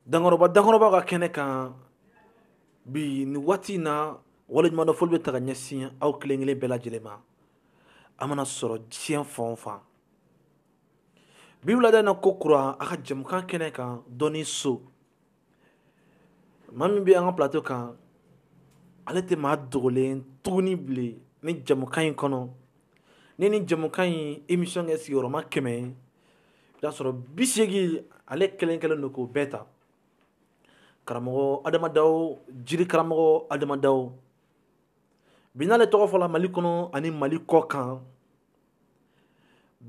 dankɔrɔba dankɔrɔba ka kɛnɛ kan bi ni waati in na waleɲumandɔn foli bɛ taa ka ɲɛsin aw kelen kelen bɛɛ lajɛlen ma a mana sɔrɔ diɲɛ fan o fan bi wulada in na ko kura a ka jɛmukan kɛnɛ kan dɔnni so maa min bɛ an ka plateau kan ale tɛ maa dogolen tuguni bilen ni jɛmukan in kɔnɔ ni ni jɛmukan in émission kɛ sigiyɔrɔma kɛmɛ ye i b'a sɔrɔ bi segin ale kelen kelen don k'o bɛɛ ta karamɔgɔ adama dawo jiri karamɔgɔ adama dawo bi n'ale tɔgɔ fɔla mali kɔnɔ ani mali kɔ kan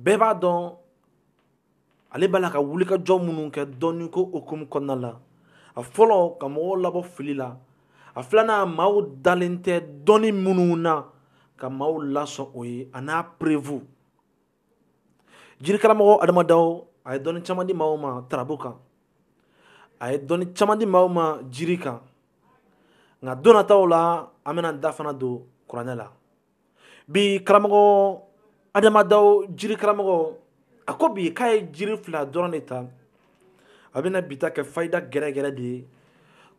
bɛɛ b'a dɔn ale b'a la ka wulikajɔ minnu kɛ dɔnni ko hukumu kɔnɔna la a fɔlɔ ka mɔgɔw labɔ fili la a filanan maaw dalen tɛ dɔnni minnu na ka maaw lasɔn o ye a n'a preuve jiri karamɔgɔ adama dawo a ye dɔnni caman di maaw ma tarabu kan a ye dɔnni caman di maaw ma jiri kan nka don nataw la an bɛna da fana don kuranɛ la bi karamɔgɔ adama dawo jiri karamɔgɔ a ko bi k'a ye jiri fila dɔrɔn de ta a bɛna bi ta kɛ fayida gɛrɛgɛrɛ de ye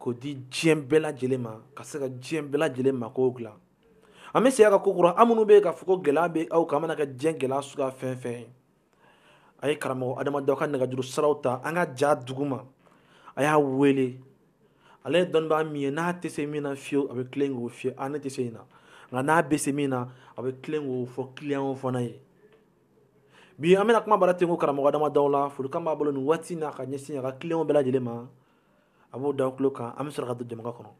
k'o di diɲɛ bɛɛ lajɛlen ma ka se ka diɲɛ bɛɛ lajɛlen makow dilan an bɛ segin a kan ko kura aw minnu bɛ yen k'a fɔ ko gɛlɛya bɛ aw kan a mana kɛ diɲɛ gɛlɛya suguya fɛn fɛn ye a ye karamɔgɔ adama dawo ka nɛgɛjuru siraw ta an ka ja dugu ma a y'a wele ale ye dɔnnibaa min ye n'a tɛ se min na fiyewu a bɛ tilen k'o f'i ye a ne tɛ se nin na nka n'a bɛ se min na a bɛ tilen k'o fɔ kiliyanw fana ye bi an bɛna kuma bara ten ko karamɔgɔ adama dawo la folikan b'a bolo nin waati in na ka ɲɛsin a ka kiliyanw bɛɛ lajɛlen ma a b'o da aw tulo kan an bɛ sɔrɔ ka don jɛmukan kɔnɔ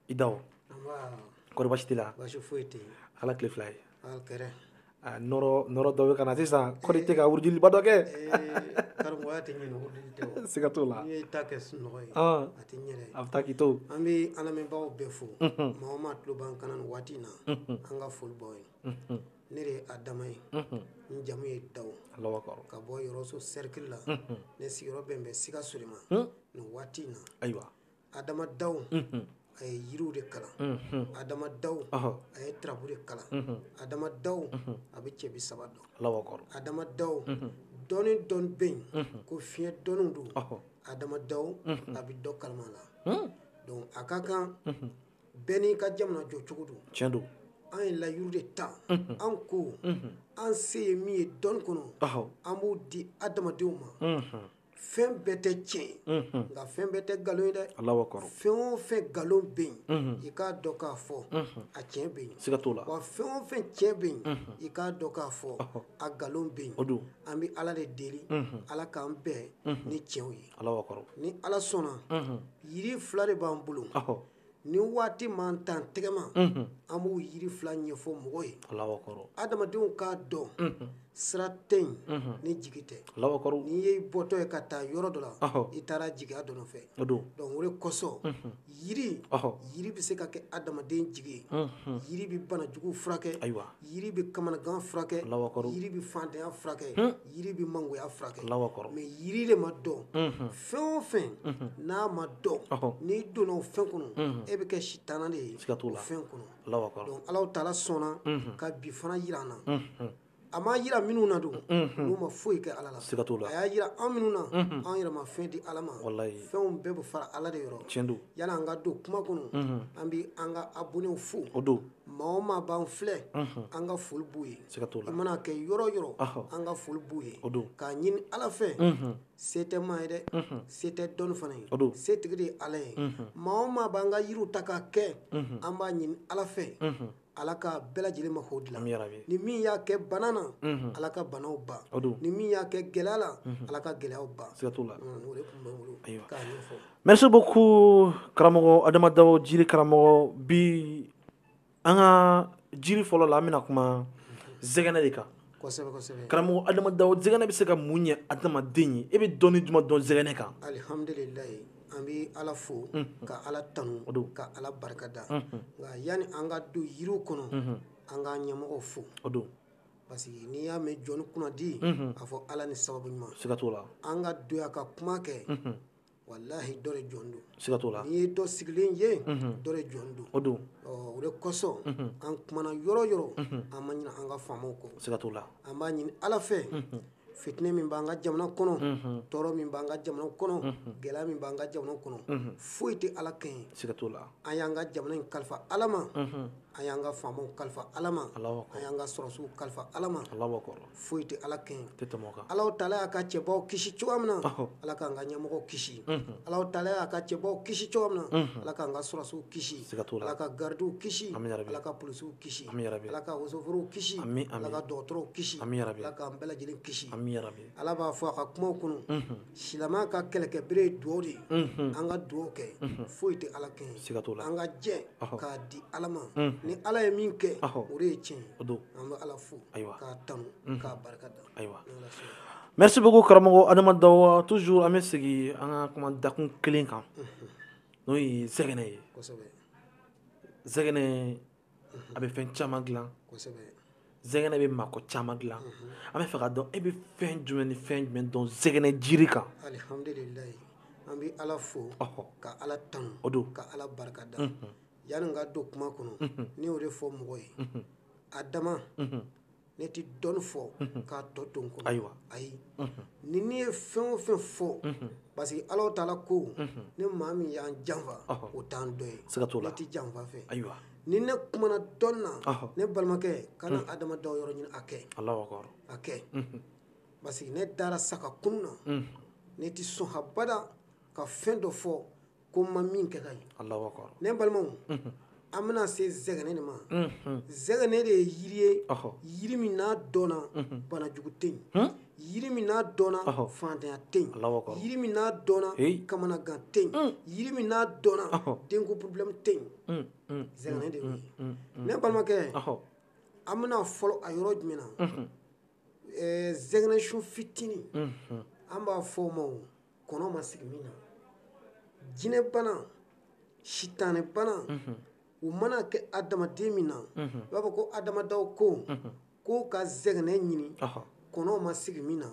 i dawo kɔri basi t'i la ala tile fila ye nɔrɔ dɔ bɛ ka na sisan kɔri tɛ ka wurudiliba dɔ kɛ siga t'o la a bɛ taa k'i to an bɛ an lamɛnbagaw bɛɛ fo maa o maa tulo b'an kan nin waati in na an ka foli b'aw ye ne de ye adama ye n jamu ye dawo ka bɔ yɔrɔso cercle la ne sigiyɔrɔ bɛn bɛ sikaso de ma nin waati in na ayiwa adama daw a ye yiriw de kalan adama daw a ye tarabu de kalan adama daw a bɛ cɛbi saba dɔn adama daw dɔnni dɔ bɛ yen ko fiɲɛ dɔnniw don adama daw a bɛ dɔ kalama la donc a ka kan bɛɛ n'i ka jamana jɔ cogo don cɛn don an ye layiru de ta an ko an se ye min ye dɔnni kɔnɔ an b'o di adamadenw ma fɛn bɛɛ tɛ tiɲɛ ye mm-hmm. nka fɛn bɛɛ tɛ nkalon ye dɛ fɛn o fɛn nkalon bɛ yen mm-hmm. i k'a dɔn k'a fɔ mm-hmm. a tiɲɛ bɛ yen wa fɛn o fɛn tiɲɛ bɛ yen i k'a dɔn k'a fɔ a nkalon bɛ yen an bɛ ala de deli ala k'an bɛn ni tiɲɛw ye ni ala sɔnna yiri fila de b'an bolo ni waati m'an tan tɛgɛma an b'o yiri fila ɲɛfɔ mɔgɔ ye adamadenw k'a dɔn sira tɛ yen ni jigi tɛ n'i ye bɔtɔ ye ka taa yɔrɔ dɔ la i taara jigiya dɔ nɔfɛ donc o de kosɔn yiri yiri bɛ se ka kɛ adamaden jigi ye yiri bɛ banajugu furakɛ ayiwa yiri bɛ kamanagan furakɛ yiri bɛ fantanya furakɛ yiri bɛ mangoya furakɛ mais yiri de ma dɔn fɛn o fɛn n'a ma dɔn n'i donna o fɛn kɔnɔ e bɛ kɛ sitana de ye siga t'o la fɛn kɔnɔ ala taala sɔnna ka bi fana jira an na a ma jira minnu na don n'u ma foyi kɛ ala la siga t'o la a y'a jira an minnu na an yɛrɛ ma fɛn di ala ma fɛnw bɛɛ bɛ fara ala de yɔrɔ tiɲɛ don yani an ka don kuma kɔnɔ an bɛ an ka abonnéw fo o don maa o maa b'an filɛ an ka foli b'u ye siga t'o la i mana kɛ yɔrɔ yɔrɔ an ka foli b'u ye o don k'a ɲini ala fɛ se tɛ maa ye dɛ se tɛ dɔnni fana ye o don setigi de ye ala ye maa o maa b'an ka yiriw ta k'a kɛ an b'a ɲini ala fɛ ala ka bɛɛ lajɛlen mako dilan ni min y'a kɛ bana na ala ka banaw ban o don ni min y'a kɛ gɛlɛya la ala ka gɛlɛyaw ban siga t'o la o de tun bɛ n bolo k'a ɲɛfɔ Merci beaucoup karamɔgɔ Adama Dawo jiri karamɔgɔ bi an ka jiri fɔlɔ la an bɛna kuma zɛgɛnɛ de kan, kosɛbɛ kosɛbɛ, karamɔgɔ Adama Dawo zɛgɛnɛ bɛ se ka mun ɲɛ adamaden ye e bɛ dɔnni jumɛn dɔn zɛgɛnɛ kan? Alihamudulilaahi an bɛ Ala fo ka Ala tanu ka Ala barikada nka yanni an ka don yiriw kɔnɔ an k'an ɲɛmɔgɔw fo o don parce que n'i y'a mɛn jɔni kunnandi a fɔ Ala ni sababu ɲuman, siga t'o la, an ka don yan ka kuma kɛ walahi dɔ de jɔlen don siga t'o la n'i ye dɔ sigilen ye mhm. dɔ de jɔlen don o don o de kosɔn mhm. an kumana yɔrɔ yɔrɔ mhm. an ma ɲina an ka faamaw kɔ siga t'o la an b'a ɲini ala fɛ fitinɛ min b'an ka jamana kɔnɔ tɔɔrɔ min b'an ka jamana kɔnɔ gɛlɛya min b'an ka jamana kɔnɔ foyi tɛ ala kɛɲɛ siga t'o la an y'an ka jamana in kalifa ala ma an y'an ka faamaw kalifa ala ma an y'an ka sɔrɔsiw kalifa ala ma foyi tɛ ala kɛɲɛ ala taala y'a ka cɛbaw kisi cogo min na ala k'an ka ɲɛmɔgɔw kisi ala taala y'a ka cɛbaw kisi cogo min na ala k'an ka sɔrɔsiw kisi ala ka garidiw kisi ala ka polisiw kisi ala ka wosoforow kisi ala ka dɔgɔtɔrɔw kisi ala k'an bɛɛ lajɛlen kisi ala b'a fɔ a ka kumaw kɔnɔ silamɛ ka kɛlɛkɛbere ye dugawu de ye an ka dugawu kɛ foyi tɛ ala kɛɲɛ an ka jɛ k'a di ala ma ni ala ye min kɛ o de ye tiɲɛ don Merci beaucoup karamɔgɔ adamadaw toujours an bɛ segin an ka kuma dakun kelen kan n'o ye zɛgɛnɛ ye zɛgɛnɛ a bɛ fɛn caman dilan zɛgɛnɛ bɛ mako caman dilan an bɛ fɛ ka dɔn e bɛ fɛn jumɛn ni fɛn jumɛn dɔn zɛgɛnɛ jiri kan Yanni n ka don kuma kɔnɔ ne y'o de fɔ mɔgɔ ye a dama ne tɛ dɔnni fɔ k'a tɔ to n kɔnɔ ayiwa ayi ni ne ye fɛn o fɛn fɔ parce que ala taala ko ni maa min y'an janfa o t'an dɔ ye siga t'o la ne tɛ janfa fɛ ayiwa ni ne kumana dɔnni na ne balimakɛ kana adamadaw yɔrɔ ɲini a kɛ allahu akbar a kɛ parce que ne dara sa ka kunu na ne tɛ sɔn habada ka fɛn dɔ fɔ ko n ma min kɛ k'a ye ne balimaw an bɛna se zɛgɛnɛ de ma zɛgɛnɛ de ye yiri ye yiri min n'a dɔnna banajugu tɛ yen yiri min n'a dɔnna fantanya tɛ yen yiri min n'a dɔnna kamanagan tɛ yen yiri min n'a dɔnna denko problème tɛ yen zɛgɛnɛ de ye ne balimakɛ an bɛna fɔlɔ a yɔrɔ jumɛn na zɛgɛnɛ sun fitinin an b'a fɔ o ma kɔnɔ ma sigi min na jinɛbana sitanɛbana mhm. u mana kɛ adamaden min na i mhm. b'a fɔ ko adamadaw ko mhm. ko ka zɛgɛnɛ ɲini kɔnɔ ma sigi min na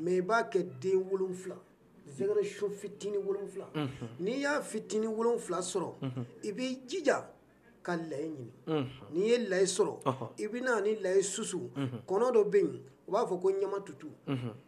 mɛ i b'a kɛ den wolonfila zɛgɛnɛ sun fitini wolonfila n'i y'a fitini wolonfila sɔrɔ i b'i jija ka layi ɲini n'i ye layi sɔrɔ i bɛ na ni layi susu kɔnɔ dɔ bɛ yen u b'a fɔ ko ɲama tutu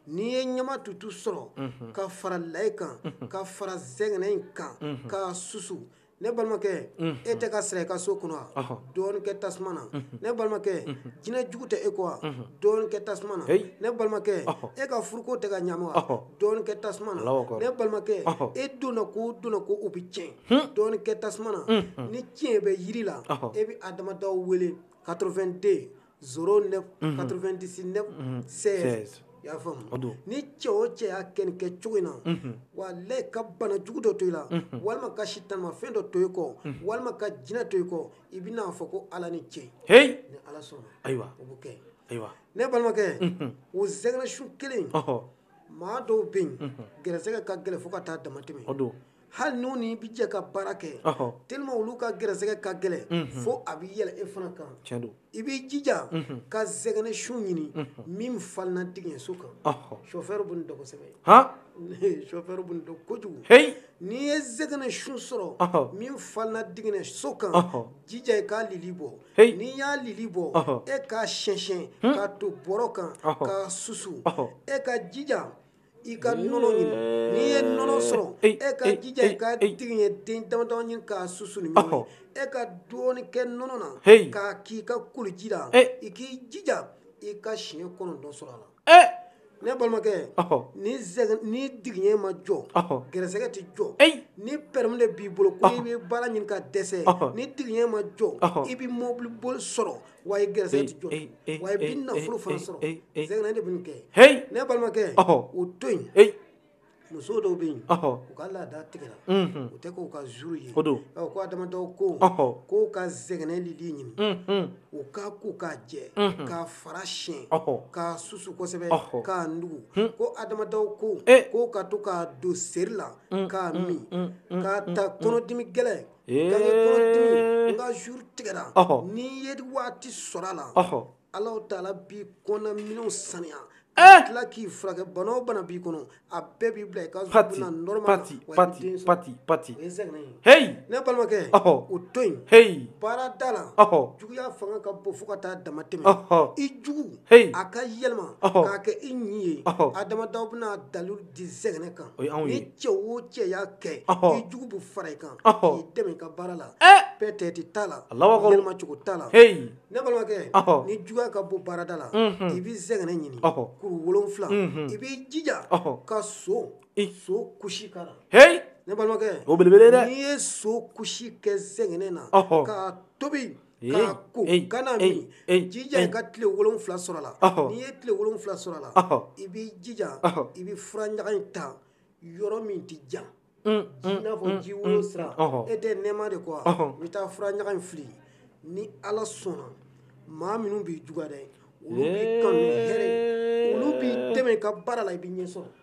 n'i ye ɲama tutu sɔrɔ ka fara layi kan ka fara zɛgɛnɛ in kan k'a susu ne balimakɛ e tɛ ka siran i ka so kɔnɔ wa dɔɔni kɛ tasuma na ne balimakɛ jinɛ jugu tɛ e kɔ wa dɔɔni kɛ tasuma na ne balimakɛ e ka furuko tɛ ka ɲami wa dɔɔni kɛ tasuma na ne balimakɛ e donna ko donna ko o bɛ tiɲɛ dɔɔni kɛ tasuma na ni tiɲɛ bɛ yiri la e bɛ adamadaw wele 82 09 99 16 i y'a faamu o don ni cɛ o cɛ y'a kɛ nin kɛ cogo in na walayi ka bana jugu dɔ to i la walima ka sitanimafɛn dɔ to i kɔ walima ka jinɛ to i kɔ i bɛ n'a fɔ ko ala ni cɛ heyi ni ala sɔnna ayiwa o bɛ kɛ ayiwa ne balimakɛ o zɛgɛnɛ sun kelen maa dɔw bɛ yen gɛrɛsɛgɛ ka gɛlɛn fo ka taa damatɛmɛ o don hali n'u ni bɛ jɛ ka baara kɛ tellement olu ka gɛrɛsɛgɛ ka gɛlɛn fo a bɛ yɛlɛ e fana kan tiɲɛ don i b'i jija ka zɛgɛnɛ sun ɲini min falenna digiɲɛso kan chauffeur bɛ nin dɔn kosɛbɛ han chauffeur bɛ nin dɔn kojugu heyi n'i ye zɛgɛnɛ sun sɔrɔ min falenna digiɲɛso kan jija i k'a lili bɔ n'i y'a lili bɔ e k'a siyɛn-siyɛn k'a to bɔrɔ kan k'a susu e ka jija i ka nɔnɔ ɲini n'i ye nɔnɔ sɔrɔ e ka jija i ka digiɲɛ den damadama ɲini k'a susu ni ɲɔgɔn ye e ka dɔɔni kɛ nɔnɔ na k'a k'i ka koliji la i k'i jija i ka siɲɛ kɔnɔntɔn sɔrɔ a la ne balimakɛ ni digiɲɛ ma jɔ gɛrɛsɛgɛ tɛ jɔ ni pɛrɛmu de b'i bolo ko i bɛ baara ɲini ka dɛsɛ ni digiɲɛ ma jɔ i bɛ mɔbili boli sɔrɔ wa i gɛrɛsɛgɛ ti jɔ ee, ee, wa i bɛ nafolo fana sɔrɔ zɛgɛnɛ de bɛ nin kɛ ne balimakɛ o to yen muso dɔw bɛ yen u ka laada tigɛra mhm. u tɛ k'u ka jour ye ko Adama Daw ko k'u ka zɛgɛnɛ lili ɲini mhm. u k'a ko k'a jɛ mhm. k'a fara siyɛn k'a susu kosɛbɛ k'a nugu hmm. ko Adama Daw ko eh. k'u ka to k'a don seri la k'a min k'a ta kɔnɔdimi gɛlɛn gankekɔnɔdimi n ka jour tigɛra n'i ye waati sɔrɔ a la Alahu taala b'i kɔnɔnaminɛnw saniya ka tila k'i furakɛ bana o bana b'i kɔnɔ a bɛɛ b'i bila i ka jour bɛ na normal wa i bɛ den sɔrɔ o ye zɛgɛnɛ ye ne balimakɛ o to yen baarada la juguya fanga ka bon fo ka taa dama tɛmɛ i jugu a ka yɛlɛma k'a kɛ i ɲi ye Adama Daw bɛna dalilu di zɛgɛnɛ kan o ye anw ye ni cɛ o cɛ y'a kɛ i jugu bɛ fara i kan k'i dɛmɛ i ka baara la pɛtɛti t'a la yɛlɛma cogo t'a la ne balimakɛ ni juguya ka bon baarada la i bɛ zɛgɛnɛ ɲini kuru wolonwula i b'i jija ka so i so kusi k'a la ne balimakɛ o belebele dɛ n'i ye so kusi kɛ zɛgɛnɛ na k'a tobi k'a ko kan'a min i jija i ka tile wolonwula sɔrɔ a la n'i ye tile wolonwula sɔrɔ a la i b'i jija i bɛ fura ɲaga in ta yɔrɔ min tɛ jan ji i n'a fɔ ji woyo sira e tɛ nɛɛma de kɔ wa i bɛ taa fura ɲaga in fili ni ala sɔnna maa minnu b'i juguya dɛ olu b'i kanu ni hɛrɛ ye olu b'i dɛmɛ i ka baara la i bɛ ɲɛsɔrɔ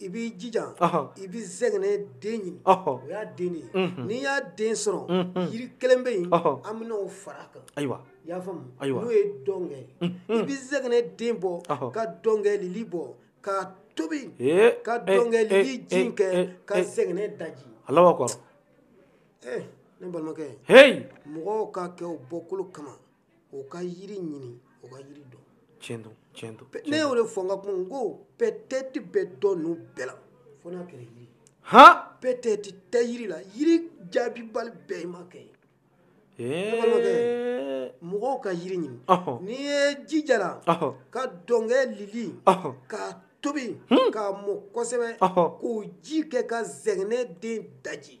i b'i jija i bɛ zɛgɛnɛ den ɲini o y'a den de ye n'i y'a den sɔrɔ yiri kelen bɛ yen an bɛna o fara a kan ayiwa i y'a faamu ayiwa n'o ye dɔngɛ i bɛ zɛgɛnɛ den bɔ ka dɔngɛ lili bɔ k'a tobi ka dɔngɛ lili ji in kɛ ka zɛgɛnɛ daji Alahu akbar ne balimakɛ hey mɔgɔw ka kɛ bɔkolo kama o ka yiri ɲini o ka yiri dɔn tiɲɛ don tiɲɛ don ne y'o de fɔ n ka kuma n ko pɛtɛti bɛ dɔ ninnu bɛɛ la fo n'a kɛra yiri han pɛtɛti tɛ yiri la yiri jaabibali bɛɛ i m'a kɛ mɔgɔw ka yiri ɲini n'i ye jijala ka dɔnkɛ lili k'a tobi hmm. k'a mɔ kosɛbɛ k'o ji kɛ ka zɛgɛnɛ den daji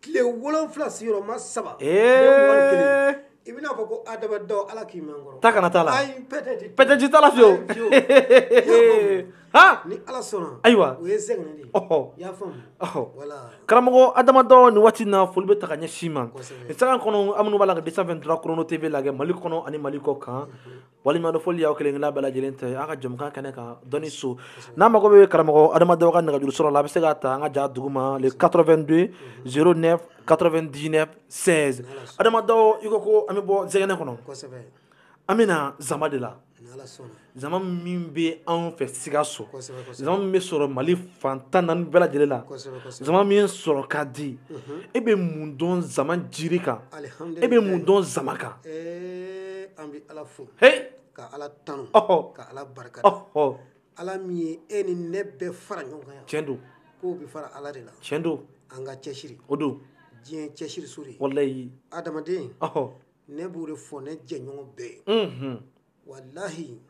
tile wolonfila sigiyɔrɔma saba i bɛna fɔ ko Adama Dawu ala k'i man kɔrɔ ta kana t'a la ayi pɛtɛti pɛtɛti t'a la fiyewu ha ni ala sɔnna ayiwa o ye zɛgɛnɛ de ye ɔhɔ i y'a faamu ɔhɔ wala karamɔgɔ Adama Dawu nin waati na foli bɛ taa ka ɲɛsin i ma nin sanga kɔnɔ an minnu b'a la ka 223 chrono tv lajɛ mali kɔnɔ ani mali kɔ kan walima dɔ foli y'aw kelen kelenna bɛɛ lajɛlen ta ye an ka jamukan kɛnɛ kan dɔnni so n'a mago bɛ karamɔgɔ Adama Dawu ka nɛgɛjuru sɔrɔ la a bɛ se k'a ta an ka ja duguma le 82 09 99 16 Adama Dawu i ko ko an bɛ bɔ zɛgɛnɛ kɔnɔ an bɛ na zama de la zama min bɛ anw fɛ sikaso zama min bɛ sɔrɔ mali fan tan naani bɛɛ lajɛlen la zama min sɔrɔ ka di e bɛ mun dɔn zama jiri kan e bɛ mun dɔn zama kan ee an bɛ ala fo ka ala tanu ka ala barika da ala min ye e ni ne bɛɛ fara ɲɔgɔn kan yan tiɲɛ don ko bɛ fara ala de la tiɲɛ don an ka cɛsiri o don diɲɛ cɛsiri so de ye walayi adamaden ne b'o de fɔ ne jɛɲɔgɔn bɛɛ ye walahi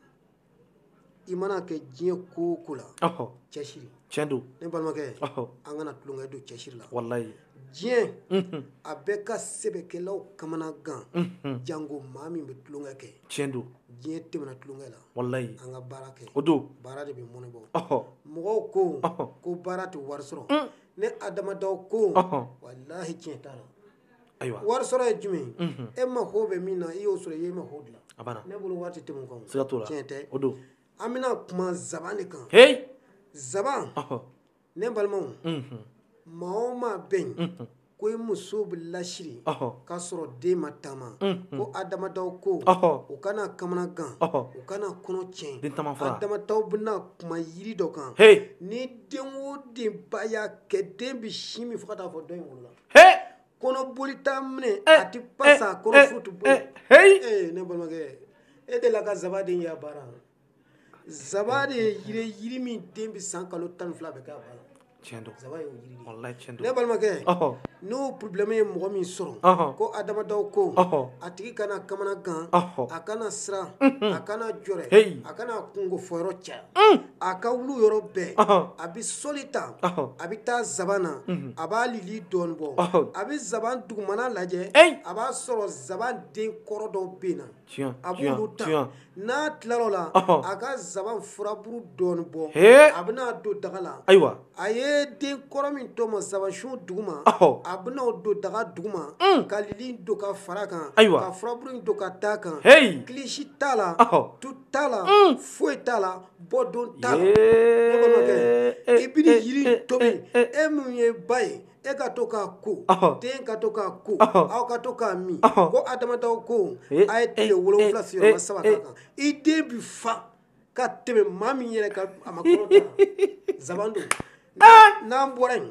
i mana kɛ diɲɛ ko o ko la cɛsiri tiɲɛ don ne balimakɛ an kana tulonkɛ don cɛsiri la walahi diɲɛ a bɛ ka sɛbɛkɛlaw kamanagan janko maa min bɛ tulonkɛ kɛ tiɲɛ don diɲɛ tɛmɛna tulonkɛ la walahi an ka baara kɛ o don baara de bɛ mɔnɛ bɔ mɔgɔw ko ko baara tɛ wari sɔrɔ ne Adama Dawu ko walahi tiɲɛ t'a la ayiwa wari sɔrɔ ye jumɛn e mago bɛ min na i y'o sɔrɔ i y'i mago dilan a banna ne bolo wari tɛ tɛmɛ o kan siga t'o la tiɲɛ tɛ o don an bɛna kuma zaban de kan heyi zaban ne balimaw maa o maa bɛ yen ko i muso bɛ lasiri k'a sɔrɔ den ma taama ko Adama Dawu ko u kana kamanagan u kana kɔnɔ tiɲɛ den taama fara Adama Dawu bɛna kuma yiri dɔ kan heyi ni den o den ba y'a kɛ den bɛ sin min fo ka taa fo dɔ in wolola he kɔnɔboli t'a minɛ eh, a ti pasa eh, kɔnɔ eh, foyi ti bɔ ee ne balimakɛ e delila ka zaba den y'a bala zaba de ye yiri ye yiri min den bɛ san kalo tan ni fila bɛɛ k'a bala tiɲɛ don zaba y'o yiri de walayi tiɲɛ don ne balimakɛ n'o problème ye mɔgɔ min sɔrɔ ko Adama Dawu ko a tigi kana kamana gan a kana siran a kana jɔrɛ a kana kunko fɔ yɔrɔ caya a ka wulu yɔrɔ bɛɛ a bɛ sɔli ta a bɛ taa zaban na a b'a lili dɔɔnin bɔ a bɛ zaban dugumana lajɛ a b'a sɔrɔ zaban den kɔrɔ dɔw binna a b'olu ta n'a tilal'o la a ka zaban furaburu dɔɔnin bɔ a bɛna don daga la ayiwa a ye den kɔrɔ min tɔmɔ zabansun duguma a bɛna don daga duguma ka lili don ka fara a kan ka furaburu in don ka d'a kan kilisi t'a la t'a la foyi t'a la bɔdon t'a la ne balimakɛ i bɛ nin yiri in tobi e min ye ba ye e ka to k'a ko den ka to k'a ko aw ka to k'a min ko a damadaw ko a ye tile wolonwula sigiyɔrɔma saba k'a kan i den bi fa ka tɛmɛ maa min yɛrɛ kan a ma kɔnɔ ta zaban don n'an bɔra yen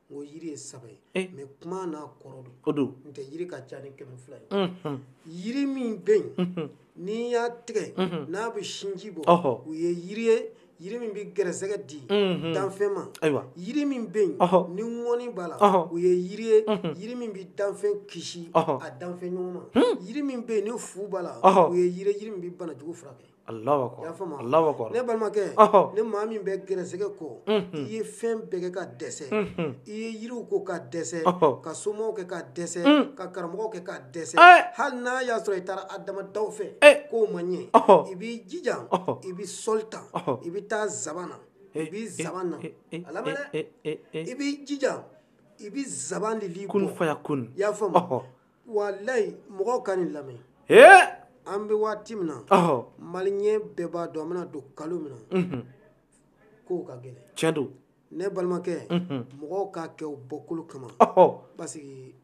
n ko yiri ye saba ye eh. mais kuma n'a kɔrɔ don o don n'o tɛ yiri ka ca ni kɛmɛ fila ye mhm. yiri min bɛ yen mhm. n'i y'a tigɛ mhm. n'a bɛ sinji bɔ o ye yiri ye yiri min bɛ gɛrɛsɛgɛ di danfɛn ma yiri min bɛ yen ni ŋɔni b'a la o ye yiri ye yiri min bɛ danfɛn kisi a danfɛn ɲɔgɔn ma hmm. yiri min bɛ yen ni fu b'a la o ye yiri ye yiri min bɛ banajugu furakɛ i y'a faamu wa ne balimakɛ ni maa min bɛ gɛrɛsɛgɛ kɔ i ye fɛn bɛɛ kɛ ka dɛsɛ i ye yiriw ko ka dɛsɛ ka somaw kɛ ka dɛsɛ ka karamɔgɔw kɛ ka dɛsɛ hali n'a y'a sɔrɔ i taara a damadaw fɛ k'o ma ɲɛ i b'i jija i bɛ sɔli ta i bɛ taa zaban na i bɛ zaban na a lamɛn dɛ i b'i jija i bɛ zaban lili bɔ i y'a faamu. walayi mɔgɔw ka nin lamɛn ee an bɛ waati min na ɔhɔ maliyɛn bɛɛ b'a dɔn an bɛna don kalo min na mhm. kow ka gɛlɛn tiɲɛ don ne balimakɛ mhm. mɔgɔw k'a kɛ u bɔkolo kama ɔhɔ parce que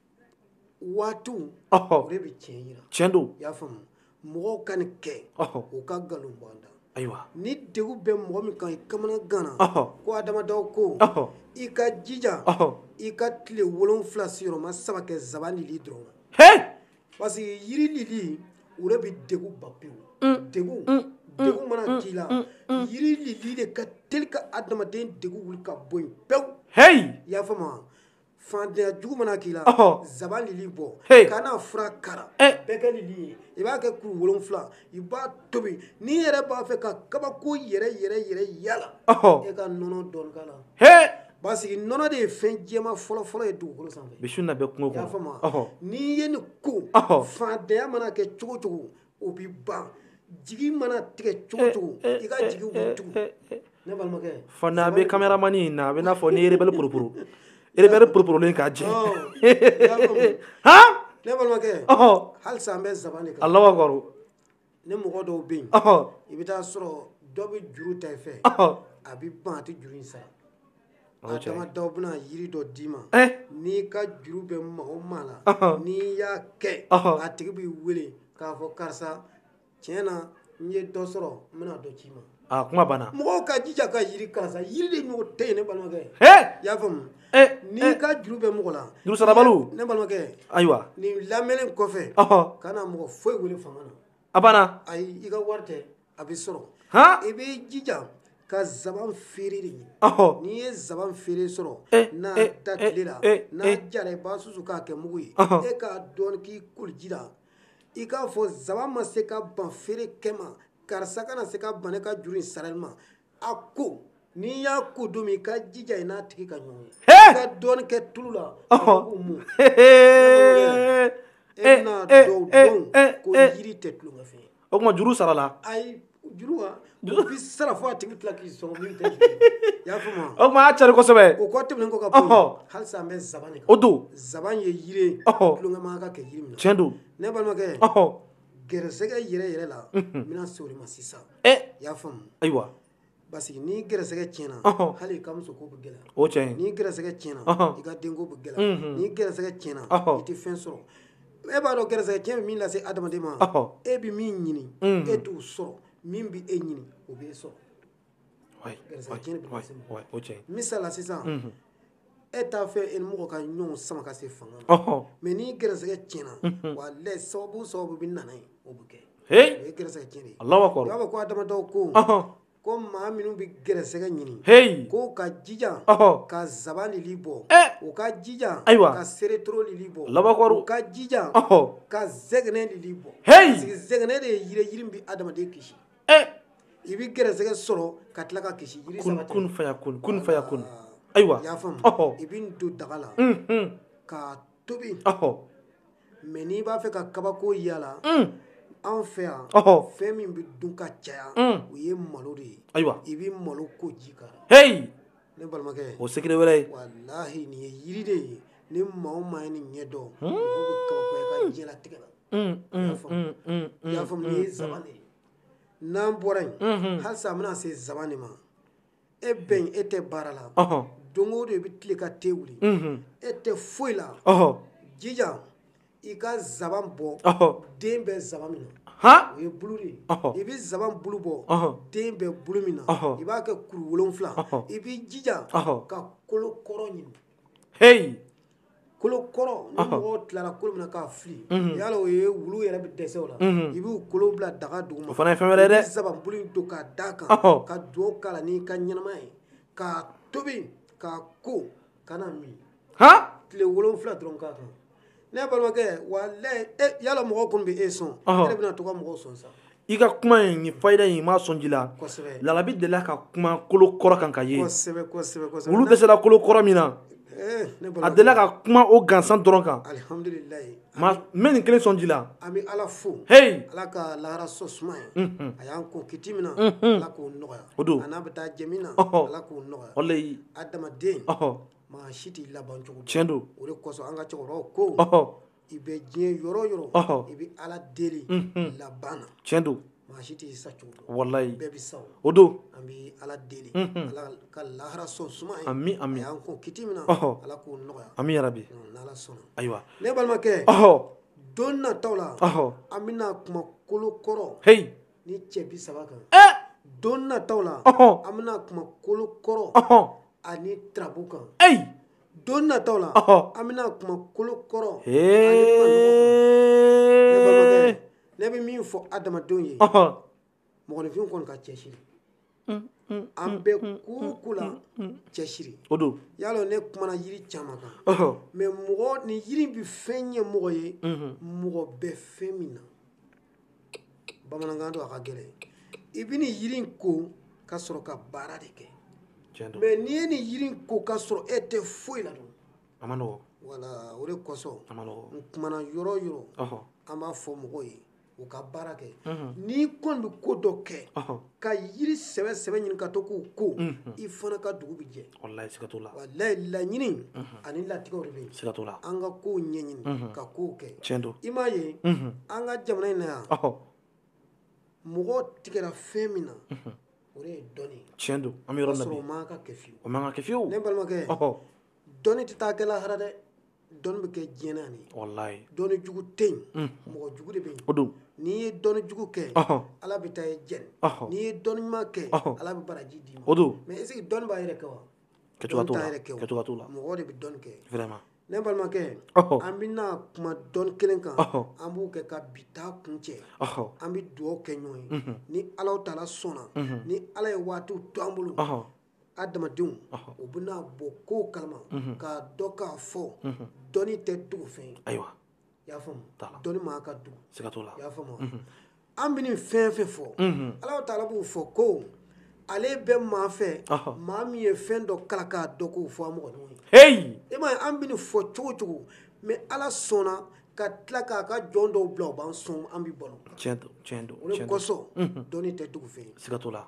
waatiw o de bɛ tiɲɛ yira tiɲɛ don i y'a faamu mɔgɔw ka nin kɛ u ka nkalon bɔ an da ni degun bɛ mɔgɔ min kan i kamanaganna ko a damadaw ko i ka jija i ka tile wolonwula sigiyɔrɔma saba kɛ zaban lili dɔrɔn na parce que yiri lili o de bɛ degun ban pewu degun degun mana k'i la yiri lili de ka teli ka adamaden degun wuli ka bɔ yen pewu i y'a faamu wa fantanya jugu mana k'i la Ɔhɔ. zaban lili bɔ Hey. kana fura k'a la Eh. bɛɛ kɛ lili ye i b'a kɛ kuru wolonfila i b'a tobi n'i yɛrɛ b'a fɛ ka kabako yɛrɛ yɛrɛ yɛrɛ y'a la Ɔhɔ. e ka nɔnɔ dɔɔni k'a la he parce que nɔnɔ de ye fɛn jɛma fɔlɔfɔlɔ ye dugukolo sanfɛ bisu na bɛ kungo i y'a kɔnɔ faamu wa? Ɔhɔ. n'i ye nin ko Ɔhɔ. fantanya mana kɛ cogo cogo o bɛ ban jigi mana tigɛ cogo o cogo i ka jigi bɛ tugu ne balimakɛ fana a bɛ kameramani in na a bɛ n'a fɔ ni erebɛli poroporo erebɛli poroporolen k'a jɛ han ne balimakɛ halisa an bɛ zaban de kan Alahu akibaru ni mɔgɔ dɔw bɛ yen i bɛ taa sɔrɔ dɔ bɛ juru ta i fɛ a bɛ ban a tɛ juru in sara Adama Daw bɛna yiri dɔ d'i ma n'i ka juru bɛ maa o maa la n'i y'a kɛ a tigi b'i wele k'a fɔ karisa tiɲɛ na n ye dɔ sɔrɔ n bɛna dɔ c'i ma aa kuma banna mɔgɔw ka jija ka yiri karisa yiri de ɲɔgɔn tɛ yen ne balimakɛ i y'a faamu n'i ka juru bɛ mɔgɔ la juru sarabaliw ne balimakɛ ayiwa nin lamɛnnen kɔfɛ kana mɔgɔ foyi wele fanga na a banna ayi i ka wari tɛ a bɛ sɔrɔ i b'i jija ka zaban feere de ɲini n'i ye zaban feere sɔrɔ n'a da tile la n'a jara i b'a susu k'a kɛ mugu ye e k'a dɔɔni k'i koliji la i k'a fɔ zaban ma se ka ban feere kɛ ma karisa kana se ka ban ne ka juru in sarali ma a ko n'i y'a ko don min i ka jija i n'a tigi ka ɲɔgɔn ye i ka dɔɔni kɛ tulu la k'o mun e n'a dɔn ko yiri tɛ tulonkɛ fɛn ye o tuma juru sarala ayi juru wa juru bɛ sara fo a tigi tila k'i sɔn min tɛ juru ye i y'a faamu wa o tuma a y'a carin kosɛbɛ o kɔ tɛmɛnen kɔ ka bɔ yen halisa an bɛ zaban de kan o don zaban ye yiri ye tulonkɛ man kan ka kɛ yiri min na tiɲɛ don ne balimakɛ gɛrɛsɛgɛ yɛrɛ yɛrɛ la n bɛna se o de ma sisan i y'a faamu ayiwa parce que n'i gɛrɛsɛgɛ tiɲɛna hali i ka musoko bɛ gɛlɛya o tiɲɛ n'i gɛrɛsɛgɛ tiɲɛna i ka denko bɛ gɛlɛya n'i gɛrɛsɛgɛ tiɲɛna i tɛ fɛn sɔrɔ e b'a dɔn gɛrɛsɛgɛ tiɲɛ bɛ min lase adamaden ma e bɛ min ɲini e t'o sɔrɔ min bɛ e ɲini o b'e sɔrɔ misala sisan e t'a fɛ e ni mɔgɔ ka ɲɔgɔn sama ka se fanga ma mais n'i gɛrɛsɛgɛ tiɲɛna walahi sababu sababu bɛ na n'a ye o bɛ kɛ o ye gɛrɛsɛgɛ tiɲɛ de ye i b'a fɔ ko Adama Daw ko ko maa minnu bɛ gɛrɛsɛgɛ ɲini k'u ka jija ka zaban lili bɔ u ka jija ayiwa ka seretoro lili bɔ u ka jija ka zɛgɛnɛ lili bɔ parce que zɛgɛnɛ de ye yiri yiri bɛ adamaden kisi eh! i bɛ gɛrɛsɛgɛ sɔrɔ ka tila ka kisi yiri saba tɛ kun faya kun kun faya kun ayiwa i y'a faamu i bɛ nin don daga la k'a tobi mais n'i b'a fɛ ka kabako y'a la anw fɛ yan fɛn min bɛ dun ka caya o ye malo de ye ayiwa i bɛ malokoji k'a kan heyi ne balimakɛ o secret wɛrɛ ye walahi nin ye yiri de ye ni maa o maa ye nin ɲɛ dɔn mɔgɔ bɛ kabako ye i ka diɲɛlatigɛ la n'an bɔra yen halisa an bɛna se zaban de ma e bɛ yen e tɛ baara la don o don i bɛ tilen ka te wuli e tɛ foyi la jija i ka zaban bɔ den bɛ zaban min na o ye bulu de ye i bɛ zaban bulu bɔ den bɛ bulu min na i b'a kɛ kuru wolonfila i b'i jija ka kolo kɔrɔ ɲini heyi kolo kɔrɔ ni mɔgɔw tilara kolo min na k'a fili yala o ye wulu yɛrɛ bɛ dɛsɛ o la i b'u kolo bila daga duguma o fana ye fɛn wɛrɛ ye dɛ i bɛ zabanbulu in don k'a d'a kan ka dugawu k'a la n'i ka ɲɛnamaya ye k'a tobi k'a ko ka na min tile wolonfila dɔrɔn k'a kan ne balimakɛ walahi e yala mɔgɔw kɔni bɛ e sɔn e de bɛna to ka mɔgɔw sɔn sa i ka kuma in ni fayida in i m'a sɔn ji la lalabi delila ka kuma kolo kɔrɔ kan ka ye wulu dɛsɛra kolo kɔrɔ min na eh, a delila ka kuma o gansan dɔrɔn kan mais n bɛ nin kelen sɔn ji la an bɛ ala fo heyi ala ka lahara sɔ suma ye mhm. a y'an kɔn kiti min na mhm. ala k'o nɔgɔya o don an n'a bɛ taa jɛ min na ala k'o nɔgɔya walayi adamaden maa si t'i laban cogo tiɲɛ don o de kosɔn an ka cɛkɔrɔbaw ko i bɛ diɲɛ yɔrɔ o yɔrɔ i bɛ ala deli laban na tiɲɛ don maa si t'i sa cogo dɔn walayi bɛɛ bɛ sa o don an bɛ ala deli ala ka lahara sɔn suma ye a y'an kɔn kiti min na ala k'o nɔgɔya ami yarabi n'ala sɔnna ayiwa ne balimakɛ don nataw la an bɛna kuma kolo kɔrɔ he ni cɛ bi saba kan don nataw la an bɛna kuma kolo kɔrɔ ani tarabu kan ayi don nataw la an bɛna kuma kolo kɔrɔ ne bɛ min fɔ adamadenw ye mɔgɔninfin kɔni ka cɛsiri an bɛ ko o ko la cɛsiri o don yala ne kumana yiri caman kan mais mɔgɔ nin yiri in bɛ fɛn ɲɛ mɔgɔ ye mɔgɔ bɛ fɛn min na bamanankan don a ka gɛlɛn i bɛ nin yiri in ko ka sɔrɔ ka baara de kɛ mɛ n'i ye nin yiri in ko ka sɔrɔ e tɛ foyi la dun a man nɔgɔ wala o de kosɔn a man nɔgɔ n kumana yɔrɔ o yɔrɔ an b'a fɔ mɔgɔw ye u ka baara kɛ n'i kɔni bɛ ko dɔ kɛ ka yiri sɛbɛ sɛbɛ ɲini ka to k'u ko mhm. i fana ka dugu bɛ jɛ walayi siga t'o la walayi laɲini mhm. ani latigɛw de bɛ yen siga t'o la an ka kow ɲɛɲini mhm. ka kow kɛ tiɲɛ don i m'a ye an ka jamana in na yan mɔgɔw tigɛra fɛn min na o de ye dɔnni ye tiɲɛ don an bɛ yɔrɔ min na bi o man kan ka kɛ fiyewu o man kan ka kɛ fiyewu ne balimakɛ dɔnni tɛ taa kɛ lahara dɛ dɔnni bɛ kɛ diɲɛ na de walayi dɔnni jugu tɛ yen mɔgɔ jugu de bɛ yen o don n'i ye dɔnni jugu kɛ ala bɛ taa i jɛni n'i ye dɔnni ɲuman kɛ ala bɛ baraji d'i ma o don mais est-ce que dɔnni b'a yɛrɛ kɛ wa kɛcogo t'o la dɔnni t'a yɛrɛ kɛ o kɛcogo t'o la mɔgɔ de bɛ dɔnni kɛ vraiment ne balimakɛ an bɛna kuma dɔnni kelen kan an b'o kɛ ka bi ta kuncɛ an bɛ dugawu kɛ ɲɔgɔn ye ni ala taala sɔnna ni ala ye waatiw to an bolo adamadenw u bɛna bɔ kow kalama k'a dɔn k'a fɔ dɔnni tɛ dogo fɛn ye ayiwa y'a faamu dɔnni man ka dogo siga t'o la y'a faamu an bɛ nin fɛn fɛn fɔ ala taala b'o fɔ ko ale bɛ maa fɛ maa min ye fɛn dɔ kalan k'a dɔn k'o fɔ a mɔgɔ ɲɔgɔn ye e ma an bɛ nin fɔ cogo cogo mais ala sɔnna ka tila k'a ka jɔn dɔw bila u b'an sɔn an bɛ balo tiɲɛ don o de kosɔn dɔnni tɛ dogo fɛn ye siga t'o la